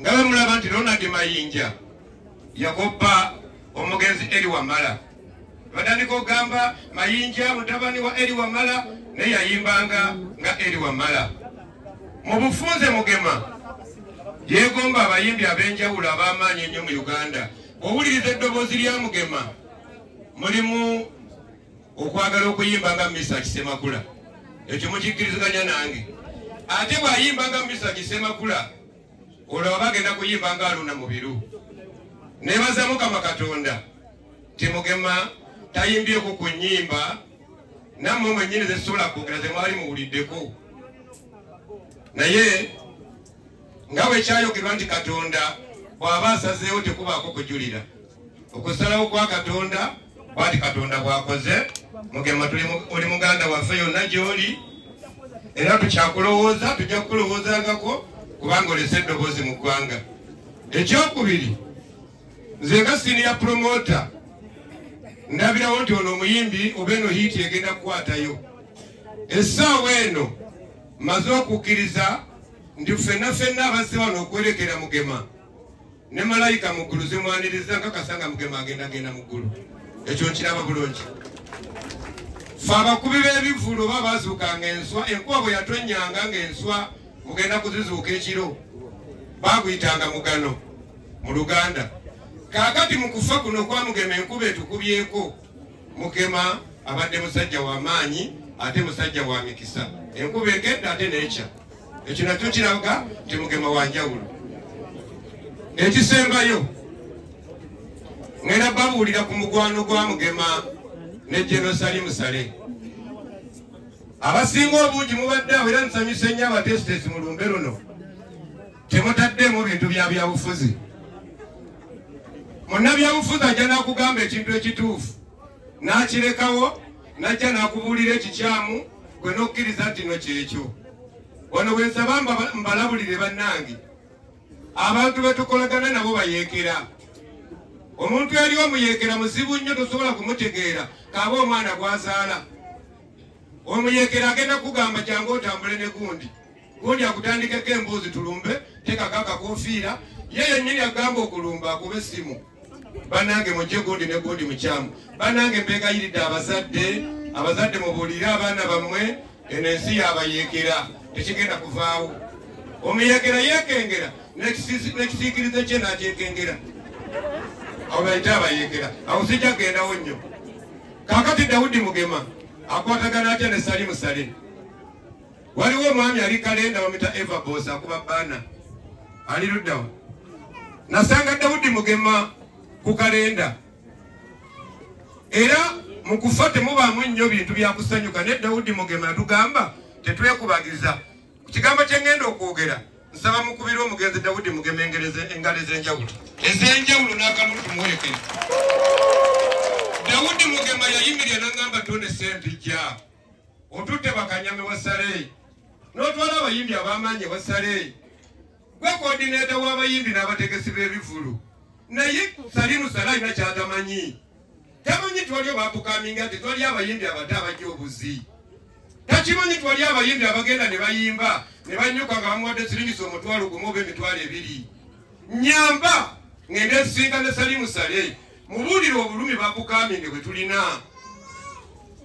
nga bamulaba nti ronald mayinja yakoppa omugenzi eri wamala batandika okugamba mayinja mutabani wa eri wamala naye yayimbanga nga eri wamala mu bufunze mugema yegomba abayimbi ab'enjawulo ab'amaanyi ennyo mu uganda Owuliriza eddoboozi lya Mugema mulimu okwagala okuyimba nga Misa Kisemakula. Ekyo mukikkiriziganya nange. Ate bw'ayimba nga Misa Kisemakula olwo aba agenda kuyimba nga Aluna Mubiru. Nebaza Mukama Katonda nti Mugema tayimbyeko ku nnyimba nammwe mwennyini ze sisobola kwogera ze mwali muwuliddeko. Naye nga bwe kyayogerwa nti katonda bw'aba asazeewo tekubaako kujulira okusalawo kwa katonda bwati katonda bw'akoze mugema oli muganda waffe yonna gy'oli era tukyakulowooza tujja kukulowoozangako kubanga olese eddoboozi mu ggwanga ekyokubiri nze nga siniya promota ndabirawo nti ono omuyimbi oba eno hiiti egenda kukwatayo essaawa eno maze okukkiriza nti ffenna ffenna abazze wano okwerekera mugema ne malayika mu ggulu zimwaniriza nkakasa nga mugema agenda genda mu ggulu ekyo nkiraba bulungi fe abakubi b'ebivulu oba bazuukanga enswa enkuba bwe yatonnyanga ng'enswa mugenda kuzizuuka ekiro baaguyitanga mugano mu luganda kaakati mu kufa kuno kwamugema enkuba etukubyeko Mukema abadde musajja wa maanyi ate musajja wa mikisa enkuba egedde ate nekya ekyo nakyo kiraga nti mukema wa njawulo ekisembayo ngenda babuulira ku mugwano gwa mugema ne jenosali musale abasinga obungi mubadde awo era nsanyuse nnyo abateesiteesi mu lumbe luno temutaddemu bintu bya byabufuzi munnabyabufuzi ajja nakugamba ekintu ekituufu nakirekawo najja nakubuulira ekikyamu gwe nokkiriza ntino kyekyo wano bwensaba mbalabulire bannange abantu betukolagana nabo bayeekera omuntu eri omuyeekera muzibu nnyo tosobola kumutegeera kaaba omwana gwazaala omuyeekera agenda kugamba jangu otambule ne gundi gundi akutandikeko emboozi tulumbe tekako akakofiira ye yennyini agamba okulumba akuba essimu banange mujje gundi ne gundi mukyamu banange mbegayiridde abazadde abazadde mubuulire abaana bammwe eno ensi yabayeekera tekigenda kuvaawo omuyeekera yeekengera nekisiikirize kye nakyekengera abo bayite abayeekera awo sijja kugendawo nnyo kakati dawudi mugema akwatagana atya ne sali musale waliwo omwami ali kalenda bamwita eva bos akuba baana ali luddawo nasanga dawudi mugema ku kalenda era mu kufa temubaamu nnyo bintu byakusanyuka ne dawudi mugema yatugamba tetwekubagiza ku kigambo kyengenda okwogera nsaba mukubira omugenzi dawudi mugema engalo ez'enjawulo ez'enjawulo n'akalulu tumuwerekere dawudi mugema yayimirira nangamba tone sente jaa otutte bakanyama wa saleeyi n'otwala abayimbi ab'amaanyi wa saleeyi gwe koodineeta w'abayimbi n'abategesi b'ebivulu naye salimu sale alina kyatamanyi tamanyi twaliyo bapukaminga nti twali abayimbi abato abajja obuzi takimanyi twali abayimbi abagenda ne bayimba ne banyuka nga bamuwadde siringisa omutwalo gumu oba emitwalo ebiri nyamba ngende nsinga ne salimu sale mubuulire obulumi bakukambinge bwe tulina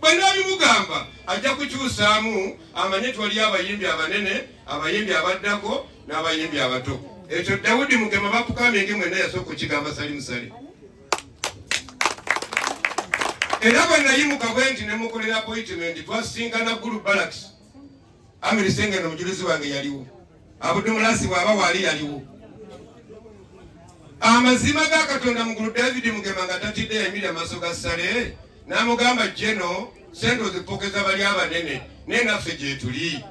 banaabimugamba ajja kukyusaamu amanye twali abayimbi abanene abayimbi abaddako n'abayimbi abato ekyo dawudi mugema bakukambinge mwena yasooka okukigamba salimusali era bwe nayimuka bwe nti ne mukolera appointment twasisinkana gulu balakisi amiri senge no mujulizi wange yaliwo abudu mulasi bwaba wali yaliwo amazima ga katonda mugulu david mugema nga tatidde yayimira amaaso ga sale namugamba jeno sente ozipokeza bali abanene naye naffe gyetuli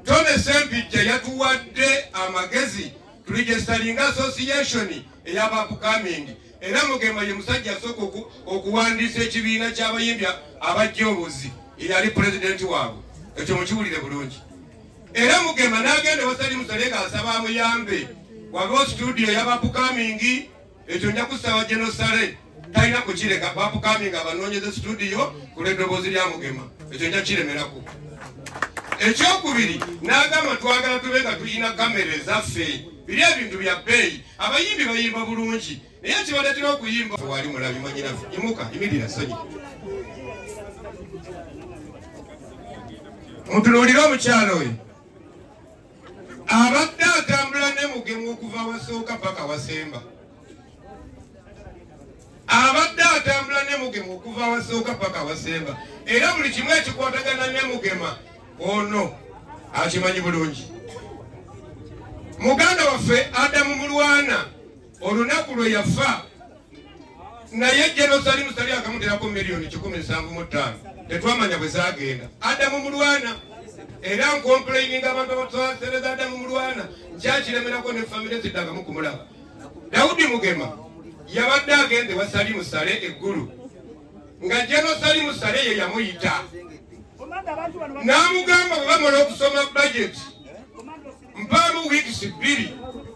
tone sempijja yatuwadde amagezi tulijesitalinga association eyabapukamind Era Mugema ye musajja asooka okuwandiisa ekibiina ky'abayimbi abajja obuzi eyali pulezidenti waabwe ekyo mukiwulire bulungi era mugema n'agenda wasali musale ng'asaba amuyambe wabewo situdiyo yabapukamingi ekyo nja kusaba genosale talina kukireka bapukamingi abanoonyeza situdiyo ku lw'eddoboozi lya mugema ekyo nja kiremerako ekyokubiri n'agamba twagala tube nga tulina kamera ezaffe biri ebintu bya bbeeyi abayimbi bayimba bulungi naye kibaletera okuyimba wali mulabi mwanyinafe imuka imirira sonyi mutunuulire omukyalo oyo abadde atambula ne mugemu okuva wasooka paka wasemba abadde atambula ne mugema okuva awasooka paka awasemba era buli kimu ekikwatagana ne mugema ono akimanyi bulungi muganda waffe adamu mulwana olunaku lwe yafa naye jenosali musali akamuterako miliyoni kikumi nsanvu mu ttaano tetwamanya bwe zagenda adamu mulwana era nkomplaininga abantu abatwasereza adamu mulwana nkyakiremerako ne famire ziddangamu kumulaba dawudi mugema yabadde agenda ewa salimu sale eggulu nga jeno salimu sale ye yamuyita n'amugamba bwe bamala okusoma bajeti mpaamu wiikisi bbiri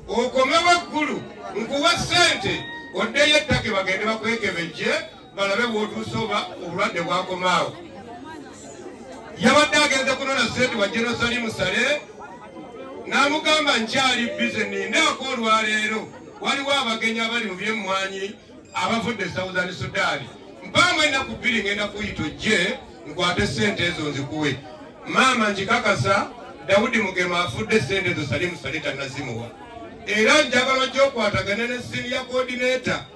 okomewo eggulu nkuwa ssente oddeyo ettake bagende bakwekebejje balabe bwotuuse oba obulwadde bwakomaawo yabadde agenze kunona sente wa jerusalemu sale n'amugamba nkyali bize nindaako olwaleero waliwo abagenyi abali mu byemmwanyi abavudde e southern sudaani mpaamu ennaku bbiri ngenda kuyita ojje nkwate sente ezo nzikuwe maama nkikakasa dawudi mugema afudde sente ezo salimu sale tanazimuwa era njagala ojja okwatagana ne siniya kodineta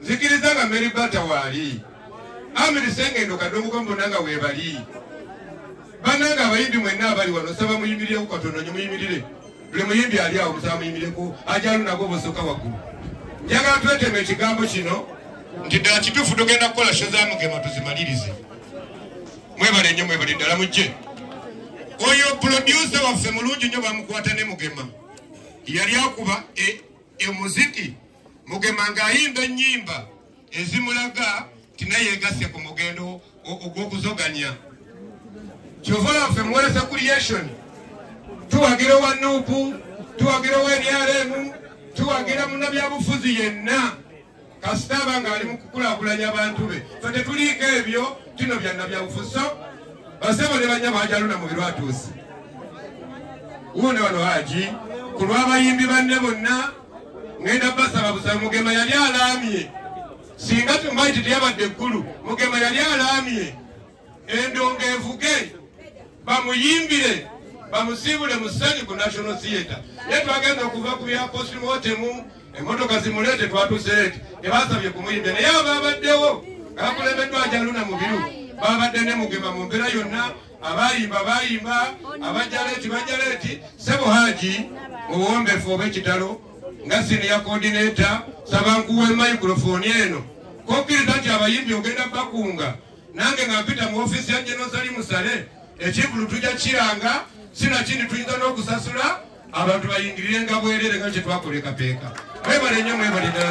nzikiriza nga mary bata waali amiri sengendo kadonguka mbona nga webali bananga abayimbi mwenna abali wano saba muyimirireko katono nyo muyimirire buli muyimbi ali awo musaba muyimireko ajalu nago bosoka waggulu njagala twetema ekigambo kino nti ddala kituufu tugenda kukola sho za mugema tuzimalirize mwebale nyo mwebale ddala mujje oyo pulodyusa waffe mulungi nyo bamukwata ne mugema yali akuba e e muziki mugema ng'ayimba ennyimba ezimulaga nti naye yegasse ku mugendo ogw'okuzoganya kyova laffe muwolesa creation tuwagira owa nuupu tuwagira owa nrm tuwagira munabyabufuzi yenna kasita aba ng'ali mu kukulakulanya bantu be fe tetuliiko ebyo kino byanna byabufuso basebo ne banyabo ajaluna mu birwatuusi wuuno wano haji ku lw'abayimbi banne bonna ngenda basaba busaba mugema yali alaamye singa tumaiti teyabadde eggulu mugema yali alaamye endongo evuge bamuyimbire bamusiibule mu ssanyu ku national theatre naye twagenda okuva ku bya postmotemu emotoka zimuleete twatuseeti tebasabye kumuyimbira naye abo babaddewo nga bakulembeddwa njaluna mubiru babadde ne mugema mu mbeera yonna abayimba bayimba abajaleeti bajaleeti sebo haji muwombefu oba ekitalo nga siniya kodineta sabankuwe microfoni eno kokkiriza nti abayimbi ogenda bakunga nange nga mpita mu ofiisi ya genosali musale ekivulu tujja kiranga sinakindi tuyinza n'okusasula abantu bayingirirenga bwerere nga kyetwakolekapeeka mwebale nnyo mwebale ddala